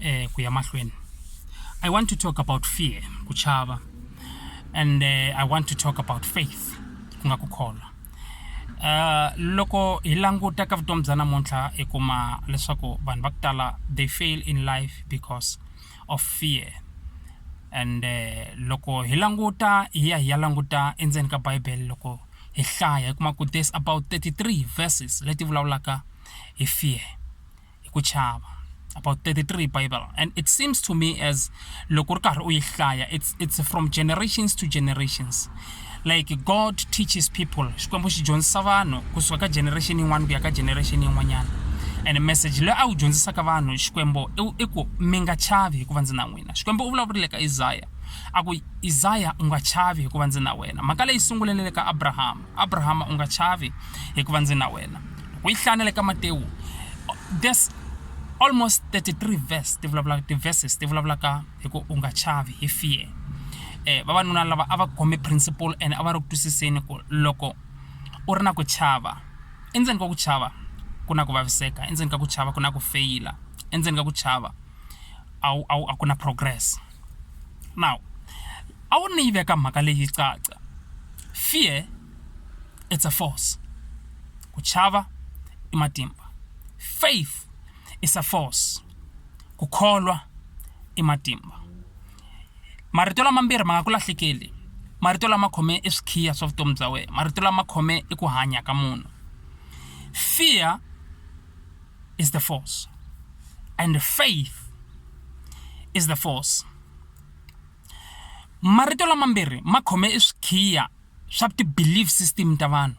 eh, ku ya mahlweni i want to talk about fear ku chava and eh, i want to talk about faith ku nga ku kholwa Uh, loko hi languta ka vutomi bya namuntlha hi kuma leswaku vanhu va ku tala they fail in life because of fear and uh, loko hi languta hi ya hi ya languta endzeni ka bibele loko hi hlaya hi kuma ku there's about 33 verses leti vulavulaka hi fear hi ku chava about 33 bible and it seems to me as loko ri karhi u yi hlaya it's, it's from generations to generations like god teaches people xikwembu xi dyondzisa vanhu kusuka ka generation yin'wana ku ya ka generation yin'wanyana and message leyi a wu dyondzisaka vanhu xikwembu i ku mi nga chavi hikuva ndzi na n'wina xikwembu u vulavurile ka isaya a ku isaya u nga chavi hikuva ndzi na wena mhaka leyi sungulelele ka abrahama abrahama u nga chavi hikuva ndzi na wena ku yi hlaya na le ka matewu there's almost 33 verse ti vulavula ti-verses ti vulavulaka hi ku u nga chavi hi fear eh vavanuna lava a va khome principle and a va ri ku twisiseni ku loko u ri na ku chava endzeni ka ku chava ku na ku vaviseka endzeni ka ku chava ku na ku feyila endzeni ka ku chava a wu a wu a ku na progress now a wu ni yi veka mhaka leyi caca fear it's a force ku chava i matimba faith is a force ku kholwa i matimba marito lamambirhi ma nga ku lahlekeli marito lama khome i swikhiya swa vutomi bya wena marito lama khome i ku hanya ka munhu fear is the force and faith is the force marito lamambirhi ma khome i swikhiya swa ti-believe system ta vanhu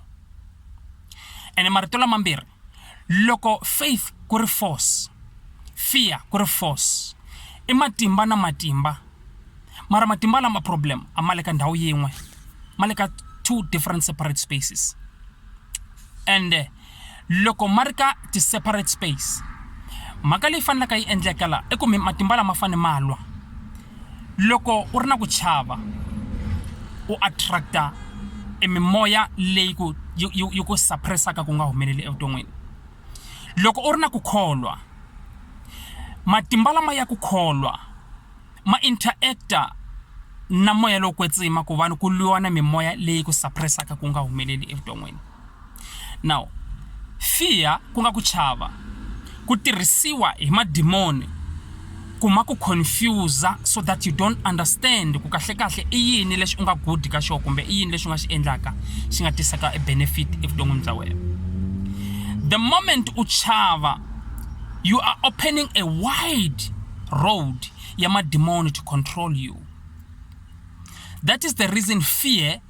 ene marito lamambirhi loko faith ku ri force fear ku ri force i matimba na matimba mara matimba lama problem a ma le ka ndhawu yin'we ma le ka two different separate spaces ende loko ma ri ka ti-separate space mhaka leyi fanelaka yi endleka la i ku mi matimba lama fane ma lwa loko u ri na ku chava u attracta e mimoya leyi ku yi- yi yi ku suppressaka ku nga humeleli evuton'wini loko u ri na ku kholwa matimba lama ya ku kholwa ma interacta na moya lowo kwetsima ku vanhu ku lwiwa na mimoya leyi ku suppressaka ku nga humeleli evuton'wini now fear ku nga ku chava ku tirhisiwa hi madimoni ku ma ku confuse so that you don't understand ku kahlekahle i yini lexi u nga good ka xona kumbe i yini lexi u nga xi endlaka xi nga tisaka e benefit evuton'wini bya wena the moment u chava you are opening a wide road ya madimoni to control you that is the reason fear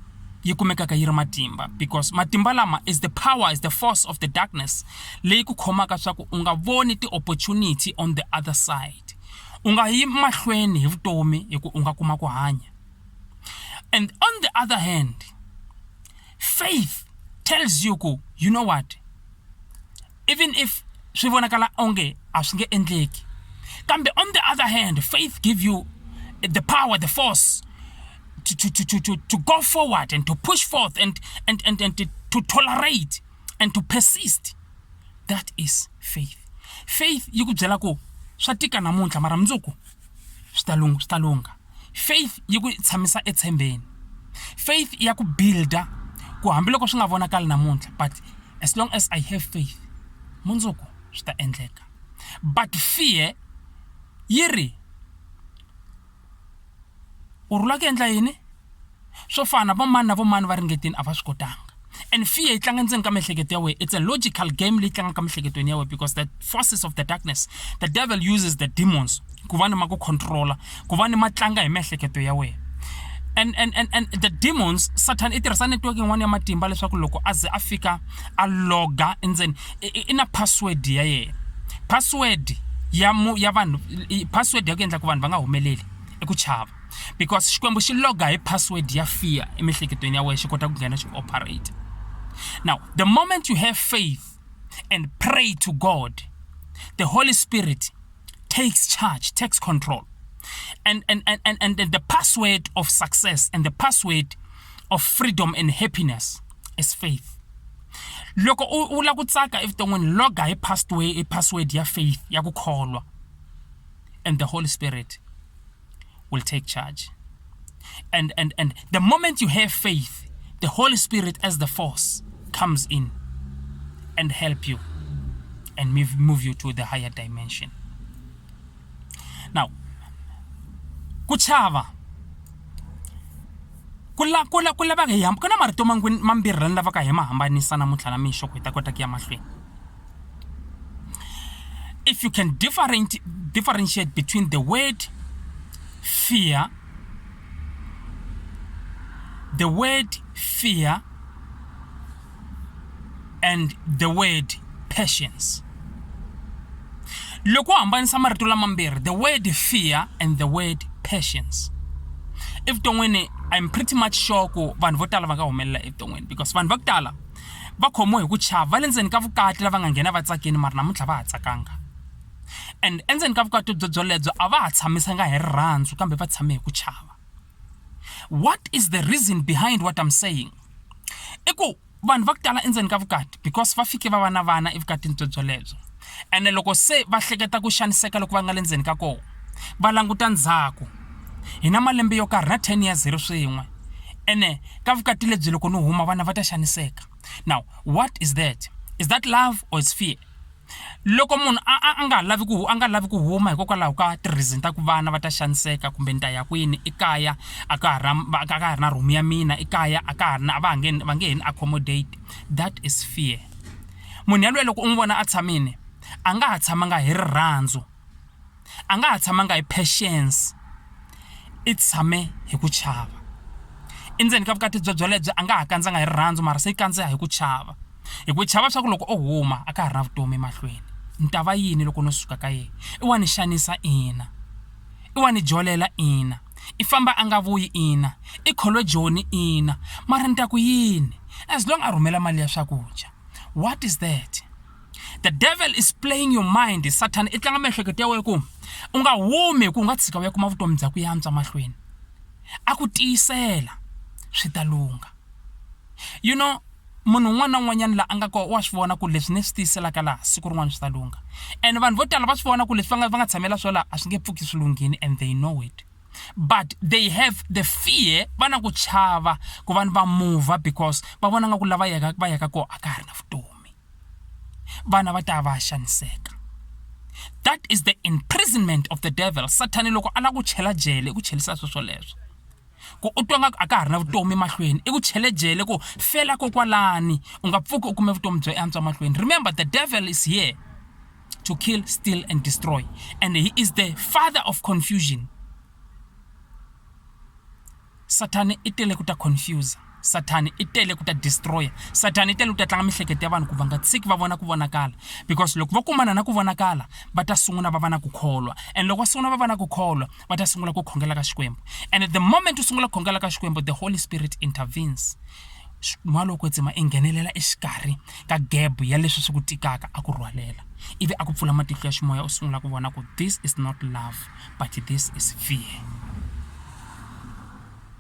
yi kumekaka yi ri matimba because matimba lama is the power is the force of the darkness leyi ku khomaka swa ku u nga voni ti-opportunity on the other side u nga yi mahlweni hi vutomi hi ku u nga kuma ku hanya and on the other hand faith tells you ku you know what even if swi vonakala onge a swi nge endleki kambe on the other hand faith give you the power the force to, to, to, to, to go forward and to push forth and, and, and, and to, to tolerate and to persist that is faith faith yi ku byela ku swa tika namuntlha mara mundzuku swi ta lungha swi ta lungha faith yi ku tshamisa etshembeni faith ya ku builda ku hambiloko swi nga vonakali namuntlha but as long as i have faith mundzuku swi ta endleka but fear yi ri u rhula ku endla yini swo fana vo mani na vo mani va ringetini a va swi kotanga and fear yi tlanga ndzeni ka miehleketo ya wena it's a logical game leyi tlangaka miehleketweni ya wena because the forces of the darkness the devil uses the demons ku va ni ma ku controla ku va ni ma tlanga hi miehleketo ya wena and and and and the demons satan i tirhisa network yin'wana ya matimba leswaku loko a ze a fika a loga endzeni i na password ya yena password ya mu ya vanhu password ya ku endla ku vanhu va nga humeleli i ku chava because xikwembu xi loga hi password ya fear emihleketweni ya wena xi kota ku nghena xi ku operate now the moment you have faith and pray to god the holy spirit takes charge takes control and and and, and, and the password of success and the password of freedom and happiness is faith loko u lava ku tsaka evuton'wini loga hi password hi password ya faith ya ku kholwa and the holy spirit will take charge. And, and, and the moment you have faith, the Holy Spirit as the force comes in and help you and move, move you to the higher dimension. Now, kuchava kula kula kula va hi hamba ku na marito mambirhi lani lavaka hi ma hambanisa namuntlha na mixo ku hi ta kota ku ya mahlweni If you can different, differentiate between the word fear, the word fear, and the word patience. loko hambanisa marito lamambirhi the word fear and the word patience evuton'wini i'm pretty much sure ku vanhu vo tala va nga humelela evuton'wini because vanhu va ku tala va khomiwe hi ku chava va le ndzeni ka vukati lava nga nghena va tsakini mara namuntlha va ha tsakanga and endzeni ka vukati byo byolebyo a va ha tshamisanga hi rirhandzu kambe va tshame hi ku chava what is the reason behind what i'm saying i ku vanhu va ku tala endzeni ka vukati because va fike va va na vana evukatini byo byolebyo ene loko se va hleketa ku xaniseka loko va nga le ndzeni ka kona va languta ndzhaku hi na malembe yo karhi na 10 years hi ri swin'we ene ka vukati lebyi loko ni huma vana va ta xaniseka now what is that is that love or is fear loko munhu a nga lavi ku a nga lavi ku huma hikokwalaho ka tireason ta ku vana va ta xaniseka kumbe ni ta ya kwini ekaya a ka ha ra a ka ha ri na room ya mina ekaya a ka ha ri na a va nge va nge he ni accommodate that is fear Munhu yaloye loko u n'wi vona a tshamile, a nga ha tshamanga hi rirhandzu, a nga ha tshamanga hi patience, i tshame hi ku chava. Endzeni ka vukati bye byelebyo a nga ha kandzanga hi rirhandzu mara se i kandza hi ku chava. Hi ku chava swa ku loko o huma a ka ha ri na vutomi emahlweni, ni ta va yini loko no suka ka yena? I wa ni xanisa ina. I wa ni jolela ina I famba a nga vuyi ina I kholo Joni ina mara ni ta ku yini as long a rhumela mali ya swakudya what is that the devil is playing your mind satan i tlanga miehleketo ya wena ku u nga humi hi ku u nga tshika u ya kuma vutomi bya ku yantswa mahlweni a ku tiyisela swi ta lungha you know munhu un'wana na un'wanyana la a nga kona wa swi vona ku leswi ni swi tiyiselaka laha siku rin'wana swi ta lungha and vanhu vo tala va swi vona ku leswi va nga va nga tshamela swo laha a swi nge pfuki swi lunghini and they know it but they have the fear va na ku chava ku vanhu va mova because va vona nga ku lava yaka va yaka kona a ka ha ri na vutomi vana va ta va xaniseka that is the imprisonment of the devil sathani loko a lava ku chela jele i ku chelisa sweswoleswo ku u twa nga a ka ha ri na vutomi emahlweni i ku chelejele ku fela kokwalani u nga pfuki u kume vutomi byo antswa mahlweni remember the devil is here to kill steal and destroy and he is the father of confusion satani i tele ku ta confuse sathani i tele ku ta destroya sathani i tele ku ta tlanga miehleketo ya vanhu ku va nga tshiki va vona ku vonakala because loko va kumana na ku vonakala va ta sungula va va na ku kholwa and loko va sungula va va na ku kholwa va ta sungula ku khongela ka xikwembu and the moment u sungula ku khongela ka xikwembu the holy spirit intervenes n'wana loko tsema i nghenelela exikarhi ka gebo ya leswi swi ku tikaka a ku rhwalela ivi a ku pfula matihlo ya ximoya u sungula ku vona ku this is not love but this is fear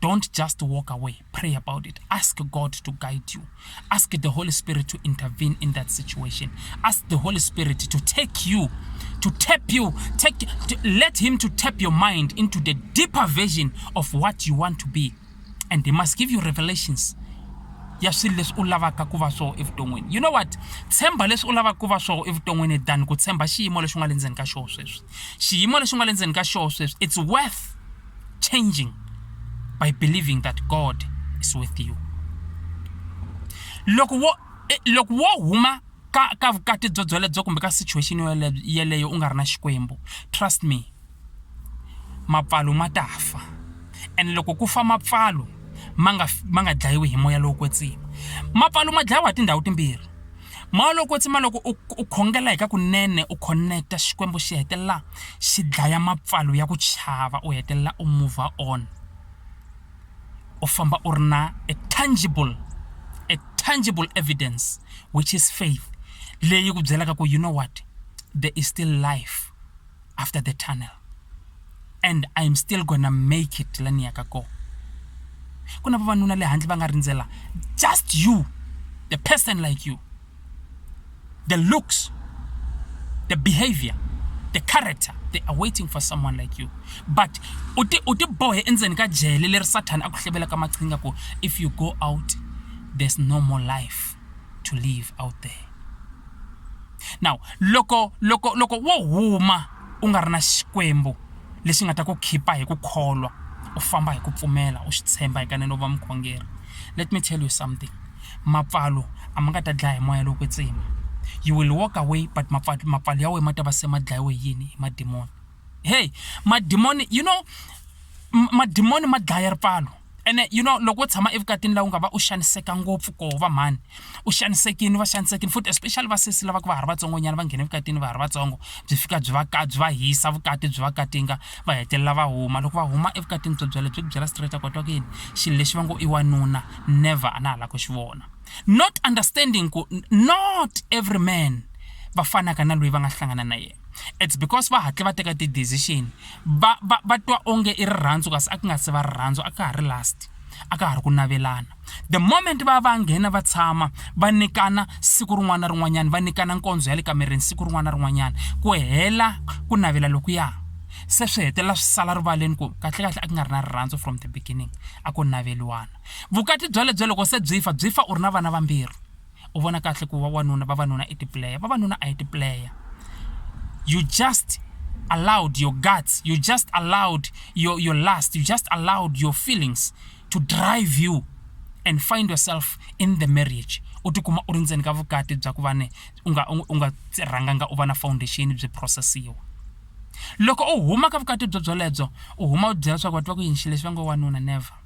Don't just walk away. Pray about it. Ask God to guide you. Ask the Holy Spirit to intervene in that situation. Ask the Holy Spirit to take you, to tap you, take to let him to tap your mind into the deeper vision of what you want to be. And he must give you revelations. ya swilo leswi u lavaka ku va swona evuton'wini you know what tshemba leswi u lavaka ku va swona evuton'wini than ku tshemba xiyimo lexi u nga le ndzeni ka xona sweswi xiyimo lexi u nga le ndzeni ka xona sweswi it's worth changing by believing that God is with you. Loko wo eh, loko wo huma ka ka vukati byo byelebyo kumbe ka situation yeleyo u nga ri na xikwembu trust me mapfalo ma ta fa and loko ku fa mapfalo ma nga ma nga dlayiwi hi moya lowo kwetsiwa mapfalo ma dlayiwa hi tindhawu timbirhi Maloko tsima loko u u khongela hi ka kunene u khoneketa Xikwembu xi hetelela xi dlaya mapfalo ya ku chava u hetelela u mover on u famba u ri na a tangible a tangible evidence which is faith leyi ku byelaka ku you know what there is still life. after the tunnel and i'm still gonna make it la ni yaka kona ku na vavanuna le handle va nga rindzela just you the person like you the looks the behavior the character they are waiting for someone like you but u ti u ti bohe endzeni ka jele leri sathana a ku hlebelaka maqhinga ku if you go out there's no more life to live out there now loko loko loko wo huma u nga ri na xikwembu lexi nga ta ku khipa hi ku kholwa u famba hi ku pfumela u swi tshemba hikanene u va mukhongeri let me tell you something mapfalo a ma nga ta dlaya hi moya lowo kwetsima you will walk away but mapfalo ya wena ma ta va se ma dlayiwe hi yini hi madimoni hey madimoni you know madimoni ma dlaya ripfalo ene you know loko u tshama evukatini laha u nga va u xaniseka ngopfu koho va mhani u xanisekile va xanisekile futhi especially va sesi lava ku va ha ri vatsongonyana va nghena evukatini va ha ri vatsongo byi fika byi va ka byi va hisa vukati byi va katinga va hetelela va huma loko va huma evukatini byo byela byi ku byela straight a kotwa ku yini xilo lexi va ngo i wanuna never a na ha lava ku xi vona not understanding ku not every man va fanaka na loyi va nga hlangana na yena it's because va hatle va teka ti-decision va va va twa onge i rirhandzu kasi a ku nga se va rirhandzu a ka ha ri last a ka ha ri ku navelana the moment va va nghena va tshama va nyikana siku rin'wana na rin'wanyana va nyikana nkondzo ya le kamereni siku rin'wana na rin'wanyana ku hela ku navela lokuya se swi hetelela swi sala rivaleni ku kahlekahle a ku nga ri na rirhandzu from the beginning a ko naveliwana vukati byalebyo loko se byi fa byi fa u ri na vana vambirhi u vona kahle ku vawanuna vavanuna i tiplayer vavanuna a hi tiplayer you just allowed your guts you just allowed your, your lust you just allowed your feelings to drive you and find yourself in the marriage u tikuma u ri ndzeni ka vukati bya ku va ne u nga u nga rhanganga u va na foundation byi processiwa loko u huma ka vukati byo byolebyo u huma u byela leswaku va tiva ku yini xilo lexi va ngo wanuna never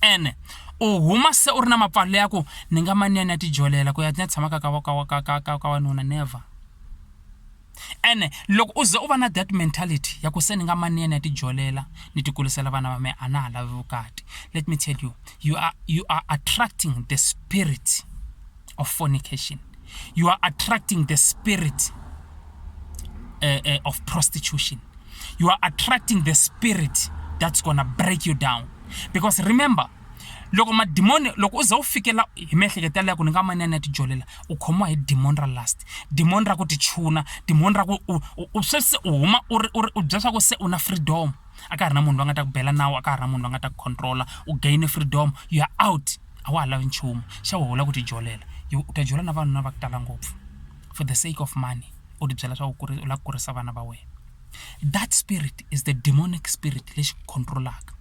ene u huma se u ri na mapfalo ya ku ni nga mani ya ni ya tijolela ku ya ni ya tshama ka ka ka ka ka ka ka wanuna never ene loko u ze u va na that mentality ya ku se ni nga mani ya ni ya tijolela ni tikulisela vana va me a na ha lavi vukati let me tell you you are you are attracting the spirit of fornication. You are attracting the spirit uh, uh, of prostitution. You are attracting the spirit that's going to break you down. Because remember, loko madimoni loko u za u fikela hi miehleketo yaleyo ku ni nga manene ya tijolela u khomiwa hi dimoni ra last dimoni ra ku tichuna dimoni ra ku u swe se u huma u ri u ri u bya swa ku se u na freedom a ka ha ri na munhu loyi a nga ta ku bela nawu a ka ha ri na munhu loyi a nga ta ku controla u gaine freedom you are out a wa ha lavi nchumu xa wena u lava ku ti jolela yo u ta jola na vavanuna va ku tala ngopfu for the sake of money u ti byela swa ku u lava ku kurisa vana va wena that spirit is the demonic spirit lexi ku control-aka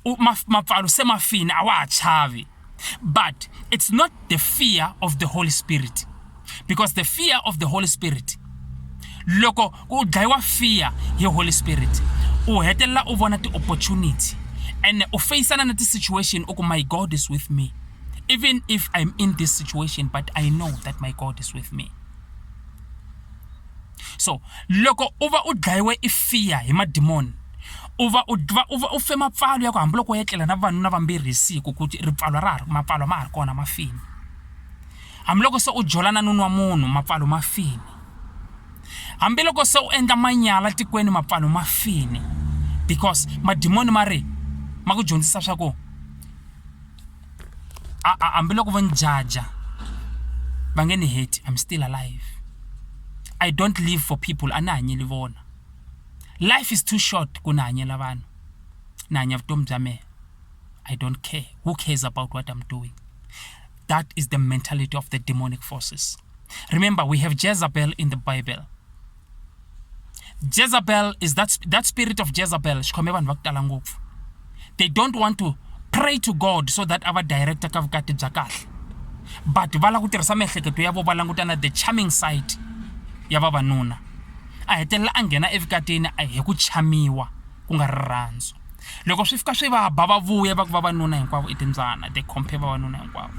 u ma mapfalo se ma fini a wa ha chavi but it's not the fear of the holy spirit because the fear of the holy spirit loko u dlayiwa fear hi holy spirit u hetelela u vona ti-opportunity and u feyisana na ti-situation u ku my god is with me even if i'm in this situation but i know that my god is with me so loko u va u dlayiwe i fear hi madimoni u va u va u va u fe mapfalo ya ku hambiloko u etlela na vanuna vambirhi hi siku ku ri pfalo ra ha ri mapfalo ma ha ri kona ma fini Hambiloko se u jola na nunu wa munhu, mapfalo ma fini. Hambiloko se u endla manyala tikweni, mapfalo ma fini. Because madimoni ma ri ma ku dyondzisa swa ku a a hambiloko vo ni jaja va nge ni heti I'm still alive. I don't live for people a ni hanyeli vona. Life is too short ku ni hanyela vanhu, ni hanya vutomi bya mehe. I don't care, who cares about what I'm doing. That is the mentality of the demonic forces. Remember, we have Jezebel in the Bible. Jezebel is that, that spirit of Jezebel. They don't want to pray to God so that our director ka vukati bya kahle. But va lava ku tirhisa miehleketo ya vona langutana the charming side ya vavanuna. A hetelela a nghena evukatini a hi ku chamiwa ku nga rirhandzu. loko swi fika swi va ba va vuya va ku vavanuna hinkwavo i timbyana they compare vavanuna hinkwavo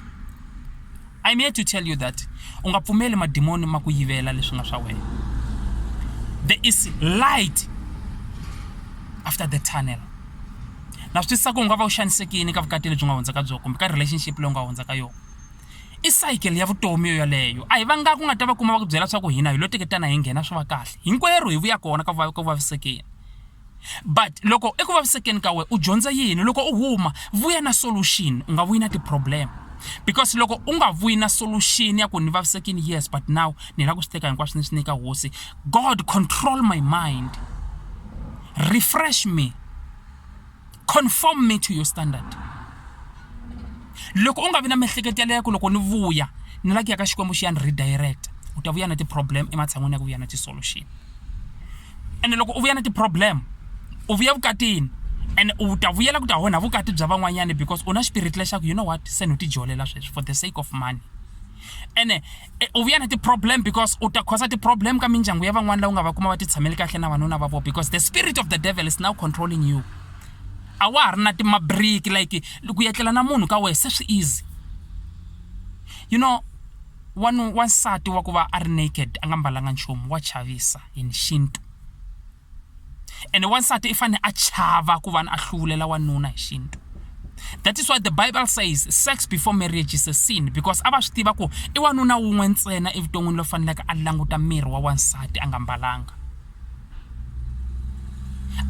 i'm here to tell you that u nga pfumeli madimoni ma ku yivela leswi nga swa wena there is light after the tunnel na swi twisisa ku u nga va u xanisekini ka vukati lebyi nga hundza ka byo kumbe ka relationship leyi u nga hundza ka yona i cycle ya vutomi yo yaleyo a hi va nga ku nga ta va kuma va ku byela swa ku hina hi lo teketana hi nghena swi va kahle hinkwerhu hi vuya kona ka ku vavisekeni but loko eku vavisekeni ka wena u dyondza yini loko u huma vuya na solution u nga vuyi na ti-problem because loko u nga vuyi na solution ya ku ni vavisekini yes but now ni lava ku swi teka hinkwaswo ni swi nyika hosi god control my mind refresh me conform me to your standard loko u nga vi na miehleketo yaleyo ku loko ni vuya ni la ku ya ka xikwembu xi ya ni redirect u ta vuya na ti-problem ematshan'wini ya ku vuya na ti-solution ene loko u vuya na ti-problem u vuya vukatini and u ta vuyela ku ta onha vukati bya van'wanyana because u na xipirit lexaku you know what se ni u tijolela sweswi for the sake of money ene eh, u vuya na ti-problem because u ta khosa ti-problem ka mindyangu ya van'wana lawu nga va kuma va titshameli kahle na vanuna va vo because the spirit of the devil is now controlling you a wa ha ri na timabriki like ku yetlela na munhu ka wehe se swi easy you know wanu wansati wa ku va a ri naked a nga mbalanga nchumu wa chavisa in xintu ene wansati i fanele a chava ku va a hluvulela wanuna hi xintu that is why the bible says sex before marriage is a sin because a va swi tiva ku i wanuna wun'we ntsena evuton'wini lo faneleke a languta miri wa wansati a nga mbalanga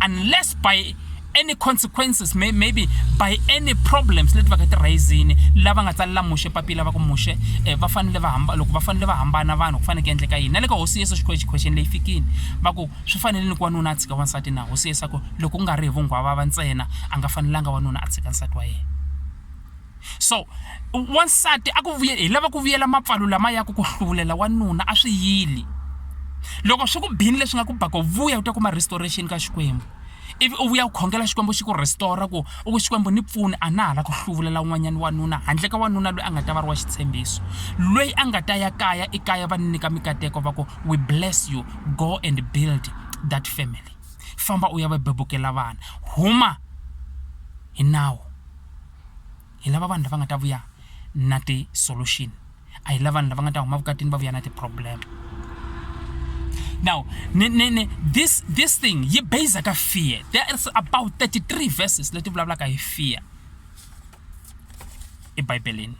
unless by any consequences may, maybe by any problems leti va ka ti rayizini lava nga tsalela muxe papila va ku muxe um eh, va fanele va hamba loko va fanele va hambana vanhu ku faneke endleka yini na le ka hosi yesu xikhwexe khwexeni leyi fikini va ku swi fanele ni ku wanuna a tshika wansati na hosi yesu a ku loko ku nga ri hi vunghwava va ntsena a nga fanelanga wanuna a tshika nsati wa yena so wansati a ku vuye hi lava ku vuyela mapfalo lama ya ku ku hluvulela wanuna a swi yili loko swi ku bini leswi nga ku baka vuya u ta kuma restoration ka xikwembu ivi u vuya u khongela xikwembu xi ku restora ku u ku xikwembu ni pfuni a na ha la ku hluvulela un'wanyana wanuna handle ka wanuna loyi a nga ta va ri wa xitshembiso loyi a nga ta ya kaya ekaya va ni nyika mikateko va ku we bless you go and build that family famba u ya va bebukela vana huma hi nawu hi lava vanhu lava nga ta vuya na ti-solution a hi la vanhu lava nga ta huma vukatini va vuya na ti-problem now ni, ni, ni, this, this thing yi base ka fear there is about 33 verses leti vulavulaka hi fear ebibeleni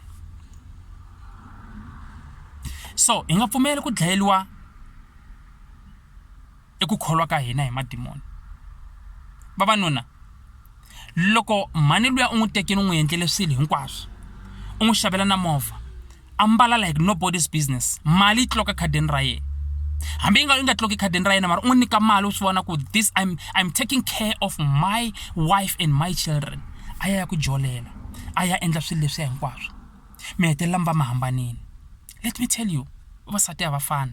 so hi nga pfumeli ku dlayeliwa i ku kholwa ka hina hi madimoni vavanuna loko mhani luya u n'wi tekile u n'wi endlele swilo hinkwaswo u n'wi xavela na movha a mbala like nobody's business mali yi tloka khadini ra yena hambi yi nga yi nga tloki khadini ra yena mara u n'wi nyika mali u swi vona ku this I'm, I'm taking care of my wife and my children a ya ya ku jolela a ya endla swilo leswiya hinkwaswo mi hetelela mi va mi hambanile let me tell you vavasati a va fani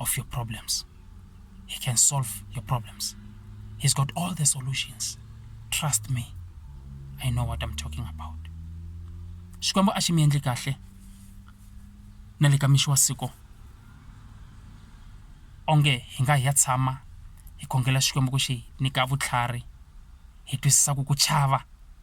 of your problems. He can solve your problems. He's got all the solutions. Trust me. I know what I'm talking about. Xikwembu a xi mi endli kahle na le ka mixi wa siku onge hi nga hi ya tshama hi khongela Xikwembu ku xi nyika vutlhari hi twisisa ku ku chava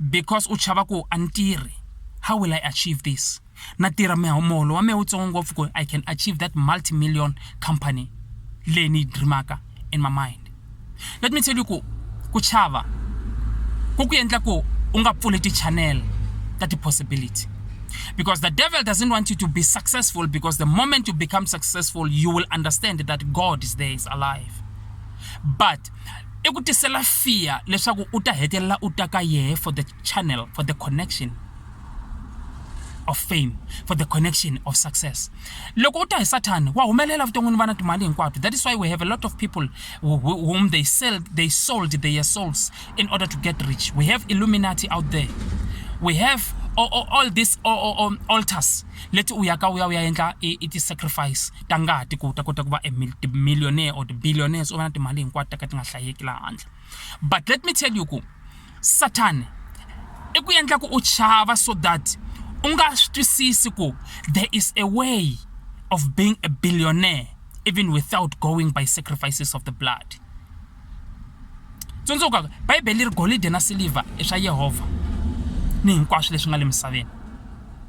because u chava ku a ni tirhi how will i achieve this na tirha muholo wa mehe wutsongo ngopfu ku i can achieve that multi million company leyi ni yi dreamaka in my mind let me tell you ku ku chava ku ku endla ku u nga pfuli ti-channel ta ti-possibility because the devil doesn't want you to be successful because the moment you become successful you will understand that god is there is alive but i ku tisela fear leswaku u ta hetelela u ta ka yehe for the channel for the connection of fame for the connection of success loko u ta hi sathani wa humelela vuton'wini vana timali hinkwato that is why we have a lot of people whom they sell they sold their souls in order to get rich we have illuminati out there we have all, all, all these all, all, altars leti u yaka u ya u ya endla i ti-sacrifice ta ngati ku ta kota ku va millionaire or billionaires u va na timali hinkwato ta ka ti nga hlayeki laha handle but let me tell you ku satan i ku endla ku u chava so that u nga swi twisisi ku there is a way of being a billionaire even without going by sacrifices of the blood tsundzuka bibele ri golidi na silivha i swa yehovha ni hinkwaswo leswi nga le misaveni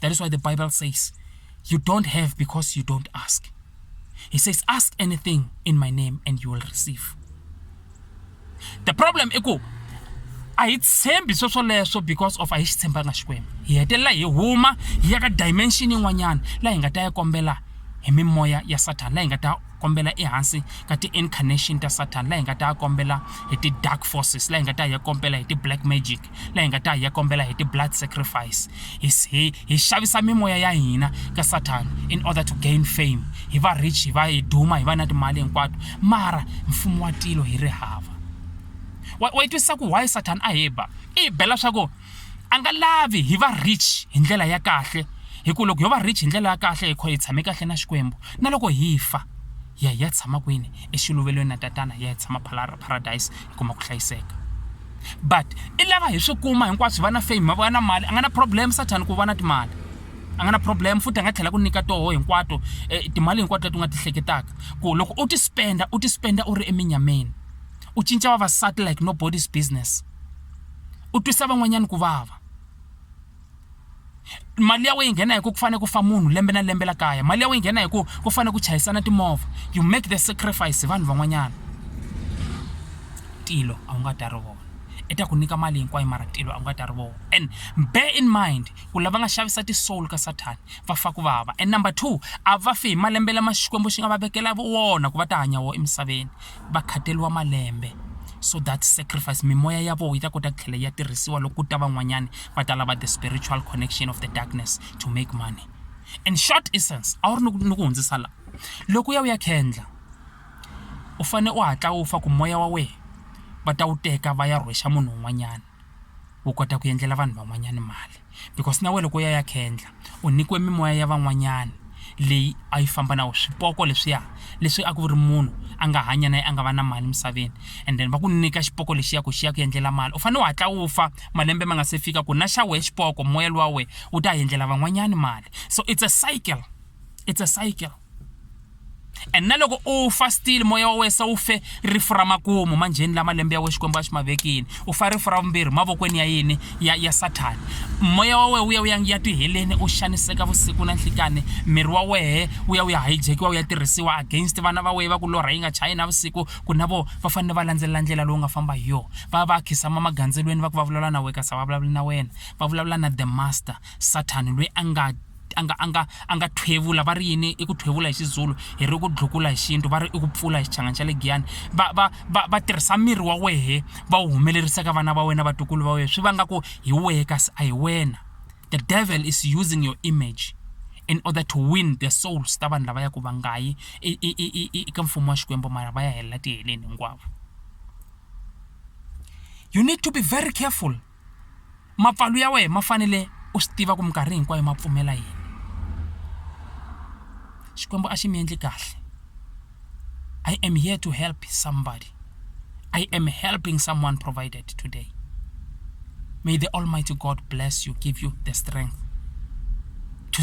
That is why the Bible says, You don't have because you don't ask. He says, Ask anything in my name and you will receive. The problem i ku a hi tshembi sweswoleswo because of a hi xi tshembanga xikwembu hi hetelela hi huma hi ya ka dimension yin'wanyana laha hi nga ta ya kombela hi mimoya ya sathana laha hi nga ta kombela ehansi ka ti-incarnation ta sathana laha hi nga ta ya kombela hi ti-dark forces laha hi nga ta ya kombela hi ti-black magic la hi nga ta hi ya kombela hi ti-blood sacrifice hi, hi, hi xavisa mimoya ya hina ka sathana in order to gain fame hi va rich hi va hi duma hi va na timali hinkwato mara mfumo wa tilo hi ri hava wa, wa yi twisisa ku why sathana a hi ba i hi bela swa ku a nga lavi hi va rich hi ndlela ya kahle hi ku loko yo va rich hi ndlela ya kahle hi kho hi tshame kahle na xikwembu na loko hi fa ya hi ya tshama kwini exiluvelweni na tatana ya hi tshama paradise hi kuma ku hlayiseka but i lava hi swi kuma hinkwaswo va na fame va na mali a nga na problem sathana ku va na timali a nga na problem futhi a nga tlhela ku nyika toho hinkwato eh, timali hinkwato leti u nga ti hleketaka ku loko u ti spenda u ti spenda u ri eminyameni u cinca vavasati like nobody's business u twisa van'wanyana ku vava mali ya wena yi nghena hi ku ku fanele ku fa munhu lembe na lembe la kaya mali ya wena yi nghena hi ku ku fanele ku chayisana timovha you make the sacrifice hi vanhu van'wanyana tilo a wu nga ta ri vona i ta ku nyika mali hinkwayo mara tilo a wu nga ta ri vona and bear in mind ku lava nga xavisa ti-soul ka sathani va fa ku vava and number two a va fi hi malembe lama xikwembu xi nga va vekela wona ku va ta hanya wona emisaveni va khateriwa malembe so that sacrifice mimoya ya vona yi ta kota ku tlhela ya tirhisiwa loko ku ta van'wanyana va ta lava the spiritual connection of the darkness to make money in short essence a wu ri ni ku hundzisa la loko u ya u ya khendla u fanele u hatla u fa ku moya wa wena va ta wu teka va ya rhwexa munhu un'wanyana u kota ku endlela vanhu van'wanyana mali because na wena loko u ya ya khendla u nyikiwe mimoya ya van'wanyana leyi a yi famba na wena swipoko leswiya leswi a ku ri munhu a nga hanya na yena a nga va na mali emisaveni and then va ku nyika xipoko lexiya ku xi ya ku endlela mali u fanele u hatla u fa malembe ma nga se fika ku na xa wena xipoko moya luwa wena wu ta endlela van'wanyana mali so it's a cycle it's a cycle. and na loko u fa still moya wa wesa wu fe rifu ra makumu manjheni la malembe ya we xikwembu a xi ma vekini u fa rifu ra vumbirhi mavokweni ya yini ya ya sathani moya wa wehe wu ya wu ya ya tiheleni u xaniseka vusiku na nhlikani miri wa wehe wu ya wu ya hijekiwa wu ya tirhisiwa against vana va wehe va ku lorha yi nga chayi na vusiku ku na vo va fanele va landzelela ndlela lowu nga famba hi yona va ya va ya khisama magandzelweni va ku va vulavula na wehe kasi a va vulavuli na wena va vulavula na the master sathani loyi a nga a nga a nga a nga thwevula va ri yini i ku thwevula hi xizulu hi ri ku dlukula hi xintu va ri i ku pfula hi xichangani xa le giyani va va va va tirhisa miri wa wehe va wu humelerisa ka vana va wena vatukulu va wena swi va nga ku hi wehe kasi a hi wena the devil is using your image in order to win the souls ta vanhu lava ya ku va nga yi eka mfumo wa xikwembu mara va ya helela tiheleni hinkwavo you need to be very careful mapfalo ya wena ma fanele u swi tiva ku minkarhi hinkwayo ma pfumela yini Xikwembu a xi mi endli kahle I am here to help somebody I am helping someone provided today may the almighty God bless you give you the strength to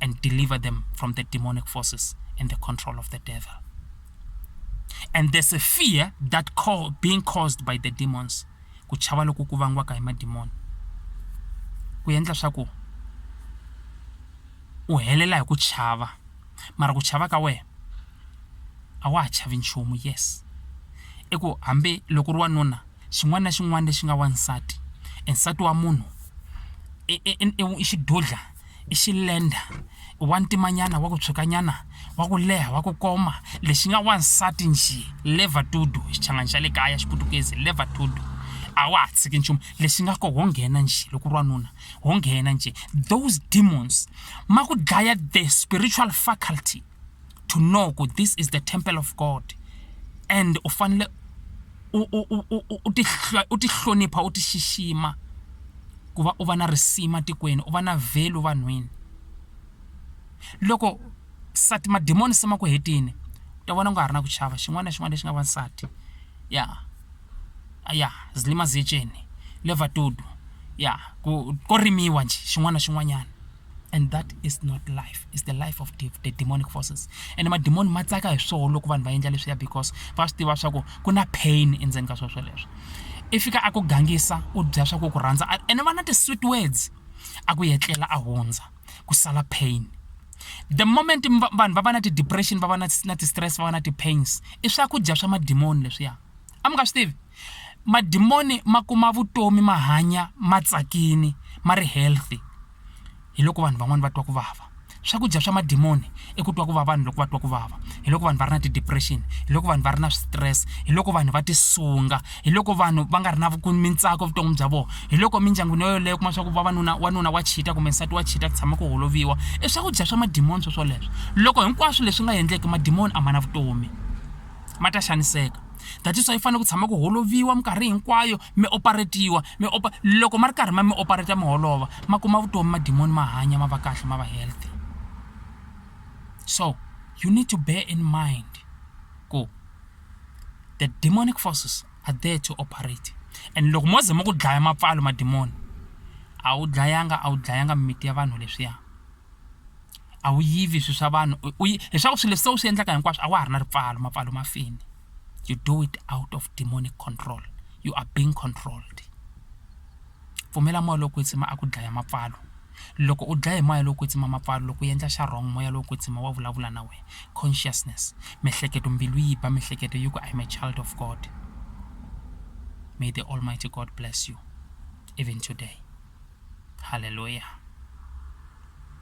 and deliver them from the demonic forces and the control of the devil. And there's a fear that call, being caused by the demons. ku chava loku ku vangiwaka hi madimoni ku endla swa ku u helela hi ku chava mara ku chava ka wena a wa ha chavi nchumu yes i ku hambi loko ri wanuna xin'wana na xin'wana lexi nga wansati e nsati wa munhu i xidudla i xilenda i wa ntimanyana wa ku tshuka nyana wa ku leha wa ku koma lexi nga wansati njhe liver to do xichangani xa le kaya xiputukezi liver to do a wa ha tshiki nchumu lexi nga ko ho nghena njhe loko ri wanuna ho nghena njhe those demons ma ku dlaya the spiritual faculty to know ku this is the temple of god and u fanele u tihlonipha u ti xixima ku va u va na risima tikweni u va na vhelu vanhwini loko sati madimoni se ma ku hetini u ta vona u nga ha ri na ku chava xin'wana na xin'wana lexi nga wansati ya ya zilima ziyeceni levatudu ya ku ko rimiwa njhe xin'wana na xin'wanyana and that is not life is the life of the demonic forces and madimoni ma tsaka hi swoho loko vanhu va endla leswiya because va swi tiva swa ku ku na pain endzeni ka sweswo leswo i fika a ku gangisa u dya swa ku ku rhandza ene va na ti-sweet words a ku yetlela a hundza ku sala pain the moment vanhu va va na ti-depression va va na ti-stress va va na ti-pains i swakudya swa madimoni leswiya a mi nga swi tivi Madimoni ma kuma vutomi ma hanya ma tsakini ma ri healthy hi loko vanhu van'wani va twa ku vava swakudya swa madimoni i ku twa ku va vanhu loko va twa ku vava hi loko vanhu va ri na ti depression hi loko vanhu va ri na switirese hi loko vanhu va ti sunga hi loko vanhu va nga ri na mintsako evuton'wini bya vona hi loko mindyangwini yo yoleyo kuma swa ku vavanuna wanuna wa cheat-a kumbe nsati wa cheat-a ku tshama ku holoviwa i swakudya swa madimoni swoswoleswo loko hinkwaswo leswi nga endleki madimoni a ma na vutomi. ma ta xaniseka that is why yi fanele ku tshama ku holoviwa minkarhi hinkwayo mi operatiwa mi opa loko ma ri karhi ma mi operata mi holova ma kuma vutomi madimoni ma hanya ma va kahle ma va healthy so you need to bear in mind ku the demonic forces are there to operate and loko mo ze ma ku dlaya mapfalo madimoni a wu dlayanga a wu dlayanga mimiti ya vanhu leswiya a wu yivi swilo swa vanhu u yi leswaku swilo leswi se u swi endlaka hinkwaswo a wa ha ri na ripfalo mapfalo ma fini you do it out of demonic control you are being controlled pfumela moya lowo kwetsima a ku dlaya mapfalo loko u dlaya hi moya lowo kwetsima mapfalo loko u endla xa wrong moya lowo kwetsima wa vulavula na wena consciousness miehleketo mbilu yi ba miehleketo yi ku I am a child of God may the almighty God bless you even today hallelujah.